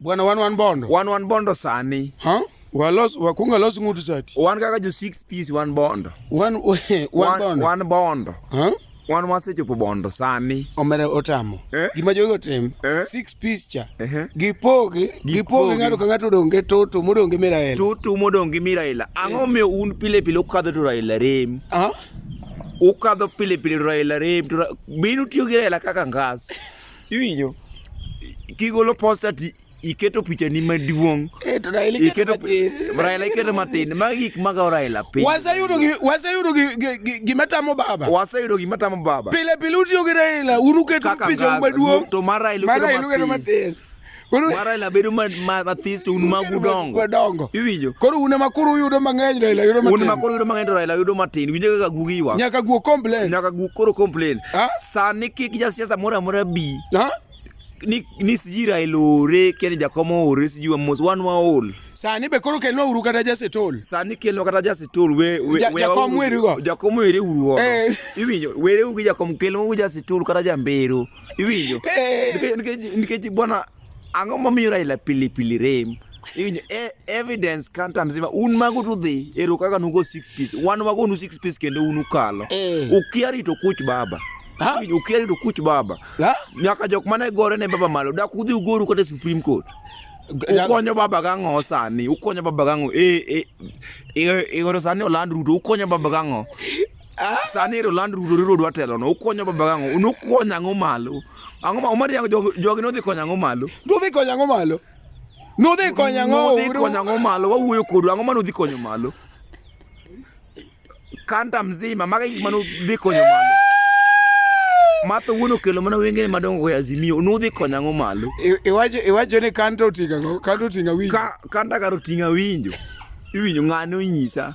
Bwana wan wan bondo. Wan wan bondo sani. Ha? Walos wakunga los ngutu sati. Wan kaka jo six piece wan bondo. Wan wan bondo. Wan bondo. Ha? Wan wasechopo bondo sani. Omere otamo. Eh? Gima jogo otim. Eh? Six piece cha. Eh? eh. Gipogi, gipogi ng'ato ka ng'ato odong' gi toto modong' gi Miraela. Toto modong' gi Miraela. Ang'o eh. miyo un pile pile ukadho to Raila rem? Ha? Ukadho pile pile Raila rem. Binu tiyo gi Raila kaka ngas. Iwinjo? Kigolo posta ti iketo picha ni maduong'. Eh, to Raila iketo matin. Raila iketo matin. Magi gik magawo Raila piny. Waseyudo waseyudo gima tamo baba. Waseyudo gima tamo baba. Pile pile utiyo gi Raila, uruketo picha maduong'. To mar Raila iketo matin. Koro- ma Raila bedo ma- ma- mathis to un magu dongo Madongo. iwinjo Koro un ema koro uyudo mang'eny Raila yudo un matin. ma koro yudo mang'eny to Raila yudo matin winjo kaka gugi ywak Nyaka guo complain. nyaka gu koro complain Ah? sani kik jasiasa moro amora bi Ha? ni ni siji Raila ore keni jakomo ore siji wa mos wan waol Sani be koro kelno uru kata jasetol. sani kelno kata jasetol we we- Ja- we- jakom wauru- werigo. jakom were urugo Eh. iwinjo were ugi jakom kelno ugi jasetol kata jambero iwinjo nikech bwana ang'o momiyo raila pilipili rem iwinjo e, evidence kanta mzima un mago to dhi ero kaka nugo six piece wan wago nu six piece kendo un ukalo eh. ukia rito kuch baba ukia rito kuch baba nyaka jok mane gore ne baba malo dak udhi ugoru kata supreme court ukonyo baba gang'o sani ukonyo baba gang'o e, e, e, e, e, sani oland ruto ukonyo baba gang'o Sani ero land rudori rodwa telo no ukonyo baba gango unukonyo ang'o malo ang'o ma umari yango jogi nodhi konyo ang'o malo nodhi konyo ang'o malo nodhi konyo ang'o nodhi konyo ang'o malo wawuoyo kodu ang'o ma nodhi konyo malo kanta mzima maga gik ma nodhi konyo malo matho wuon okelo mana wengene madongo go azimio nudhi konyo ang'o malo iwacho iwacho ni kanta otinga kanta otinga winjo kanta karo tinga winjo iwinjo ng'ano inyisa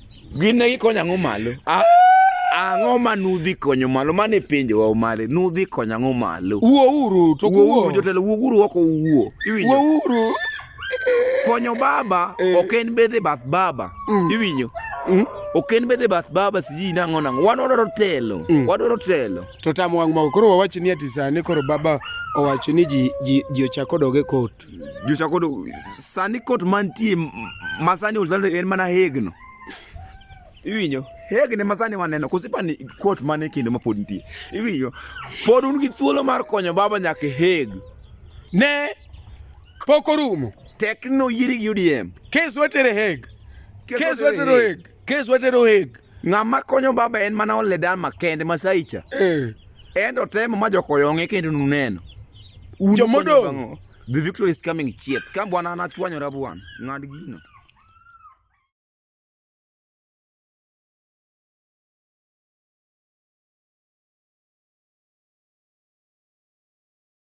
Gin ne gikonyo ang'o malo? Ah! ang'o ma nudhi konyo malo mane penjo wa omare nudhi konyo ang'o malo wuo uru to wuo jotelo wuo uru oko wuo iwinjo wuo uru konyo baba eh. ok en bedhe bath baba mm. iwinjo mm. ok en bedhe bath baba siji nang'o nang'o wan wadwaro telo mm. wadwaro telo to tamo wang' moko koro wawach ni ati sani koro baba owacho ni ji ji ji ochako doge kot Jochako do sani kot mantie masani ulzalo en mana hegno. Iwinyo hegni masani waneno kosipani kot mane kendo ma pod nitie. Iwinyo pod un gi thuolo mar konyo baba nyaka heg. Ne pok orumo. Tekno yiri gi UDM. Kes watere heg. Kes watere heg. Kes watero heg. Ng'ama konyo baba en mana ole dan makende masaicha. Eh. Endo temo ma jokoyonge kendo nuneno. Jomodo. The victory is coming chiet. Ka bwana anachwanyora bwana. Ng'ad gino.